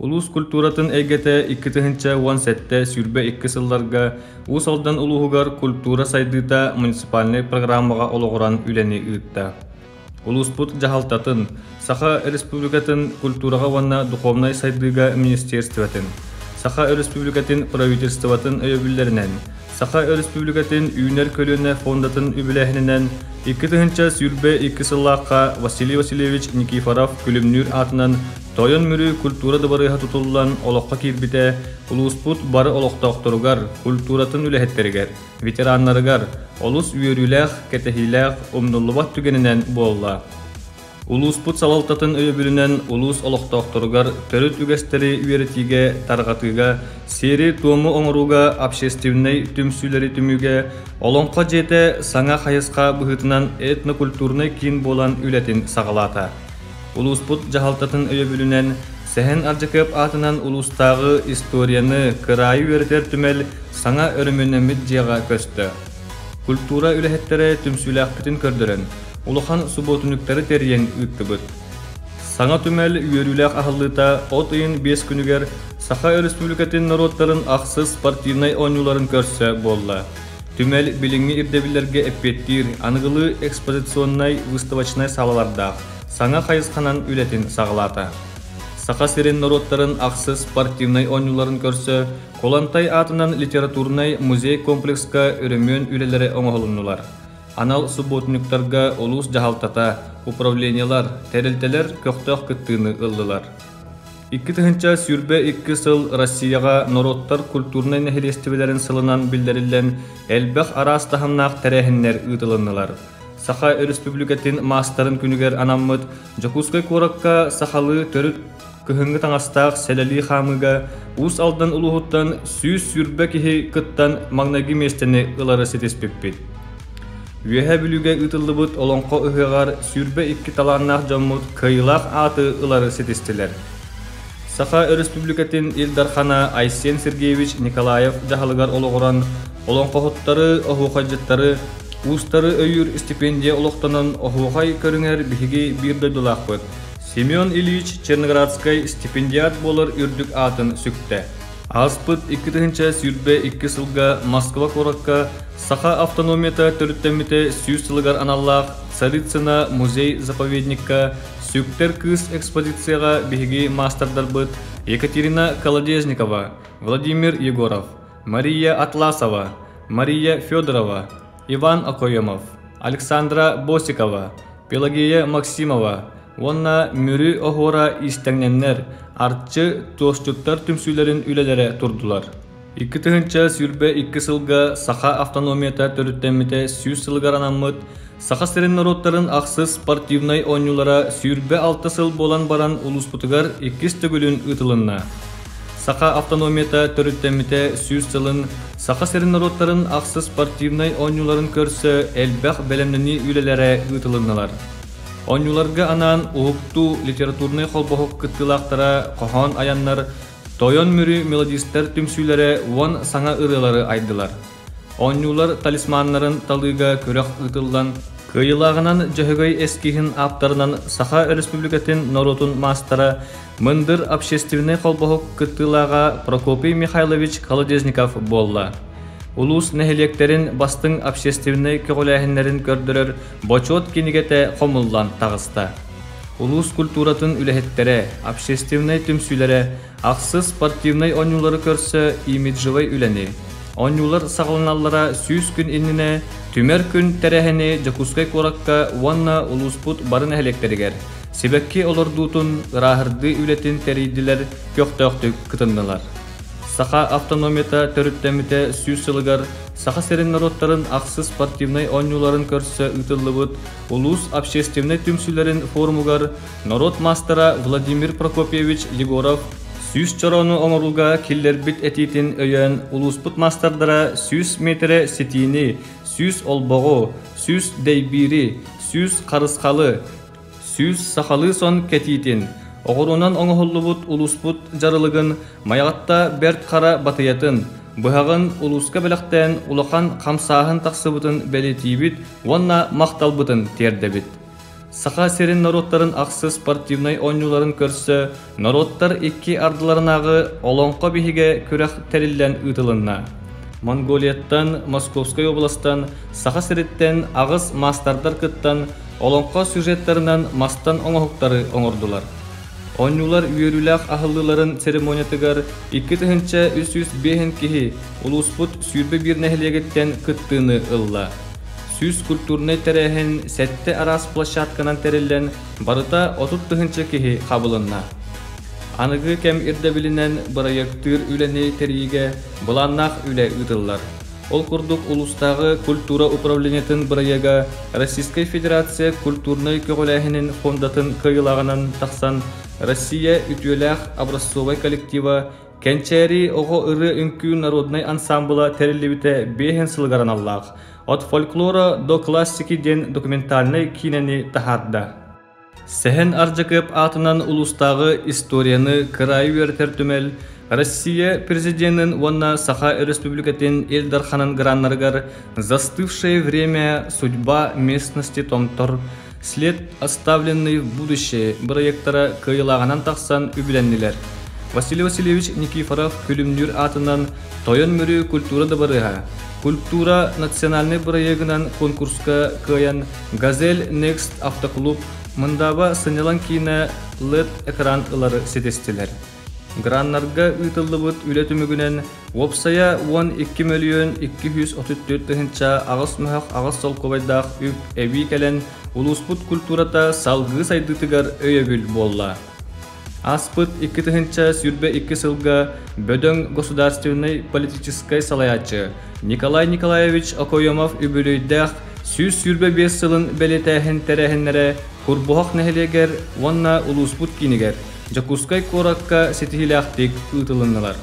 Улуус культуратын эйгэтэ икки тыһыынча уон сэттэ сүүрбэ икки сылларга Уус Алдан улууһугар культура сайдыыта муниципальнай программаҕа олоҕуран үлэни ыытта. Улууспут дьаһалтатын, Саха Республикатын культураҕа уонна духовнай сайдыыга министерствотын, Саха Республикатын правительствотын өйөбүллэринэн, Саха Республикатын Үүнэр көлүөнэ фондатын үбүлээһининэн икки тыһыынча сүүрбэ икки сыллаахха Василий Васильевич Никифоров Күлүмнүүр аатынан Тойон Мүрү культура дыбарыаһа тутуллан олоххо киирбитэ улууспут бары олохтоохторугар, культуратын үлэһиттэригэр, ветераннарыгар олус үөрүүлээх, кэтэһиилээх, умнуллубат түгэнинэн буолла. Улууспут салалтатын өйөбүлүнэн улуус олохтоохторугар төрүт үгэстэри үөрэтиигэ, тарҕатыыга, сиэри-туому оҥорууга, общественнай түмсүүлэри түмүүгэ Олоҥхо дьиэтэ саҥа хайысха быһыытынан этнокультурнай киин буолан үлэтин саҕалаата. Улууспут дьаһалтатын өйөбүлүнэн Сэһэн Ардьакыап аатынан улуустааҕы историяны, кыраайы үөрэтэр түмэл саҥа өрөмүөннэммит дьиэҕэ көстө. Культура үлэһиттэрэ түмсүүлээхпитин көрдөрөн, улахан субуотунньуктары тэрийэн ыыттыбыт. Саҥа түмэл үөрүүлээх аһыллыыта от ыйын биэс күнүгэр Саха Өрөспүүбүлүкэтин норуоттарын ахсыс спортивнай оонньууларын көрсө буолла. Түмэл билиҥҥи ирдэбиллэргэ эппиэттиир, аныгылыы экспозиционнай-выставочнай саалалардаах саҥа хайысханан үлэтин саҕалаата. Саха сирин норуоттарын ахсыс спортивнай оонньууларын көрсө Кулантай аатынан литературнай музей комплекска өрөмүөн үлэлэрэ оҥоһулуннулар. Анал субботниктарга улуус дьаһалтата, управлениелар, тэрилтэлэр көхтөөх кыттыыны ыллылар. Икки тыһыынча сүүрбэ икки сыл Россияҕа норуоттар культурнай нэһилиэстибэлэрин сылынан биллэриллэн элбэх араас таһымнаах тэрээһиннэр ыытылыннылар. Саха Өрөспүүбүлүкэтин маастарын күнүгэр анаммыт Дьокуускай куоракка сахалыы төрүт кыһыҥҥы таҥастаах сэлэлии хаамыыга Уус Алдан улууһуттан сүүс сүүрбэ киһи кыттан маҥнайгы миэстэни ылары ситиспиппит. Үөһэ Бүлүүгэ ыытыллыбыт Олоҥхо ыһыаҕар сүүрбэ икки талааннаах дьоммут кыайыылаах ааты ылары ситистилэр. Саха Өрөспүүбүлүкэтин Ил Дархана Айсен Сергеевич Николаев дьаһалыгар олоҕуран олоҥхоһуттары, оһуохайдьыттары, уустары өйүүр истипиэндийэ олохтонон оһуохай көрүҥэр биһиги биир дойдулаахпыт Семен Ильич Черноградскай стипендиат буолар үрдүк аатын сүктэ. Ааспыт икки тыһыынча сүүрбэ икки сылга Москва куоракка Саха автономията төрүттэммитэ сүүс сылыгар аналлаах Царицына музей-заповедникка Сүктэр кыыс экспозицияҕа биһиги маастардарбыт Екатерина Колодезникова, Владимир Егоров, Мария Атласова, Мария Федорова, Иван Акоемов, Александра Босикова, Пелагея Максимова уонна Мүрү Оһуора иистэнньэннэр, Арчы, Туосчуттар түмсүүлэрин үлэлэрэ турдулар. Икки тыһыынча сүүрбэ икки сылга саха автономията төрүттэммитэ сүүс сылыгар анаммыт Саха сирин норуоттарын ахсыс спортивнай оонньуулара сүүрбэ алта сыл буолан баран улууспутугар иккис төгүлүн ыытылынна. Саха автономията төрүттэммитэ сүүс сылын Саха сирин норуоттарын ахсыс спортивнай оонньууларын көрсө элбэх бэлэмнэнии үлэлэрэ ыытылынналар. Оонньууларга анаан уһуктуу литературнай холбоһук кыттыылаахтара хоһоон айаннар Тойон Мүрү мелодистар түмсүүлэрэ уон саҥа ырыалары айдылар. Оонньуулар талисманнарын талыыга күрэх ыытыллан, кыайыылааҕынан Дьөһөгөй эскиһин ааптарынан Саха Өрөспүүбүлүкэтин норуотун маастара, мындыр общественнай холбоһук кыттыылааҕа Прокопий Михайлович Колодезников буолла. Улуус нэһилиэктэрин бастыҥ общественнай көҕүлээһиннэрин көрдөрөр бочуот кинигэтэ хомуллан таҕыста. Улуус культуратын үлэһиттэрэ, общественнай түмсүүлэрэ ахсыс спортивнай оонньуулары көрсө имиджевай үлэни, оонньуулар саҕаланаллара сүүс күн иннинэ түмэр күн тэрээһини Дьокуускай куоракка уонна улууспут бары нэһилиэктэригэр сибэкки олордуутун, ырааһырдыы үлэтин тэрийдилэр, көхтөөхтүк кытыннылар. Саха автономията төрүттэммитэ сүүс сылыгар Саха сирин норуоттарын ахсыс спортивнай оонньууларын көрсө ыытыллыбыт Улуус общественнай түмсүүлэрин форумугар норуот маастара Владимир Прокопьевич Егоров сүүс чороону оҥорууга киллэрбит этиитин өйөөн улууспут маастардара сүүс миэтэрэ ситиини, сүүс олбоҕу, сүүс дэйбиири, сүүс харысхалы, сүүс сахалыы сон кэтиитин, оҕуруунан оҥоһуллубут улууспут дьарылыгын Майаҕатта Бэрт Хара батыйатын, быһаҕын улууска бэлэхтээн улахан хамсааһын тахсыбытын бэлиэтиибит уонна махталбытын тиэрдэбит. Саха сирин норуоттарын ахсыс спортивнай оонньууларын көрсө норуоттар икки ардыларынааҕы Олоҥхо биһигэ күрэх тэриллэн ыытылынна. Монголияттан, Московскай областан, Саха сириттэн аҕыс маастардар кыттан олоҥхо сюжеттарынан мастан оҥоһуктары оҥордулар. Оонньуулар үөрүүлээх аһыллыыларын церемониятыгар икки тыһыынча үс сүүс биэһин киһи улууспут сүүрбэ биир нэһилиэгиттэн кыттыыны ылла. Сүүс культурнай тэрээһин сэттэ араас площадканан тэриллэн, барыта отут тыһыынча киһи хабылынна. Аныгы кэм ирдэбилинэн бырайыактыыр үлэни тэрийиигэ былааннаах үлэ ыытыллар. Ол курдук улуустааҕы культура управлениетын бырайыага Российскай Федерация культурнай көҕүлээһинин фондатын кыайыылааҕынан тахсан Россия үтүөлээх образцовай коллектива Кэнчээри оҕо ырыа үҥкүү народнай ансаамбыла тэриллибитэ биэһин сылыгар аналлаах «От фольклора до классики» диэн документальнай киинэни таһаарда. Сэһэн Ардьакыап аатынан улуустааҕы историяны кыраайы үөрэтэр түмэл Россия президенин уонна Саха Өрөспүүбүлүкэтин Ил Дарханын граннарыгар «Застывшее время. Судьба местности Томтор» След оставленный в будущее бырайыактара кыайылааҕынан тахсан үбүлэннилэр. Василий Васильевич Никифоров Күлүмнүүр аатынан Тойон Мүрү культура дабарыаһа Культура национальнай бырайыагынан конкурска кыайан Газель Next автоклуб мындааба сынньалаҥ киинэ LED экран ылары ситистилэр. Граннарга ыытыллыбыт үлэ түмүгүнэн уопсайа уон икки мөлүйүөн икки сүүс отут төрт тыһыынча аҕыс мөһөх аҕыс солкуобайдаах үп эбии кэлэн улууспут культурата салгыы сайдыытыгар өйөбүл буолла. Ааспыт икки тыһыынча сүүрбэ икки сылга бөдөҥ государственнай политическай салайааччы Николай Николаевич Окоемов үбүлүйдээх сүүс сүүрбэ биэс сылын бэлиэтээһин тэрээһиннэрэ Курбуһах нэһилиэгэр уонна улууспут киинигэр Дьокуускай куоракка ситиһиилээхтик ыытылыннылар.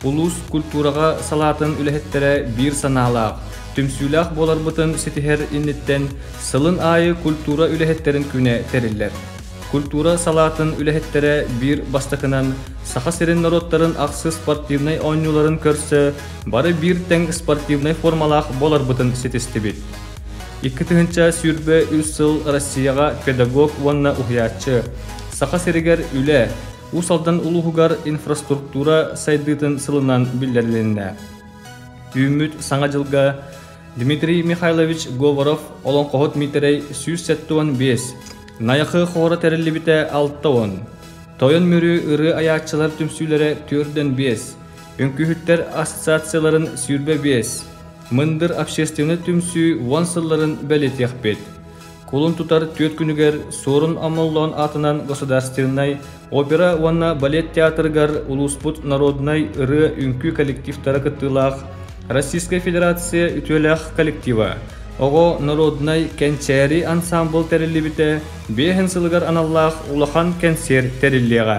Улуус культураҕа салаатын үлэһиттэрэ биир санаалаах, түмсүүлээх буоларбытын ситиһэр инниттэн сылын аайы культура үлэһиттэрин күнэ тэриллэр. Культура салаатын үлэһиттэрэ биир бастакынан Саха сирин норуоттарын ахсыс спортивнай оонньууларын көрсө бары биир тэҥ спортивнай формалаах буоларбытын ситистибит. Икки тыһыынча сүүрбэ үс сыл Россияҕа педагог уонна уһуйааччы, Саха сиригэр үлэ, Уус Алдан улууһугар инфраструктура сайдыытын сылынан биллэрилиннэ. Түүммүт Саҥа дьылга Дмитрий Михайлович Говоров олоҥхоһут Миитэрэй сүүс сэттэ уон биэс, Найахы хоһоро тэриллибитэ алта уон, Тойон Мүрү ырыы айааччылар түмсүүлэрэ төрдөн биэс, Үҥкүһүттэр ассоциацияларын сүүрбэ биэс, Мындыр общественнай түмсүү уон сылларын бэлиэтиэхпит. Кулун тутар түөрт күнүгэр Суорун Омоллоон аатынан государственнай опера уонна балет театрыгар улууспут народнай ырыа үҥкүү коллективтара кыттыылаах Российскай Федерация үтүөлээх коллектива Оҕо народнай кэнчээри ансаамбыл тэриллибитэ биэһин сылыгар аналлаах улахан кэнсиэр тэриллиэҕэ.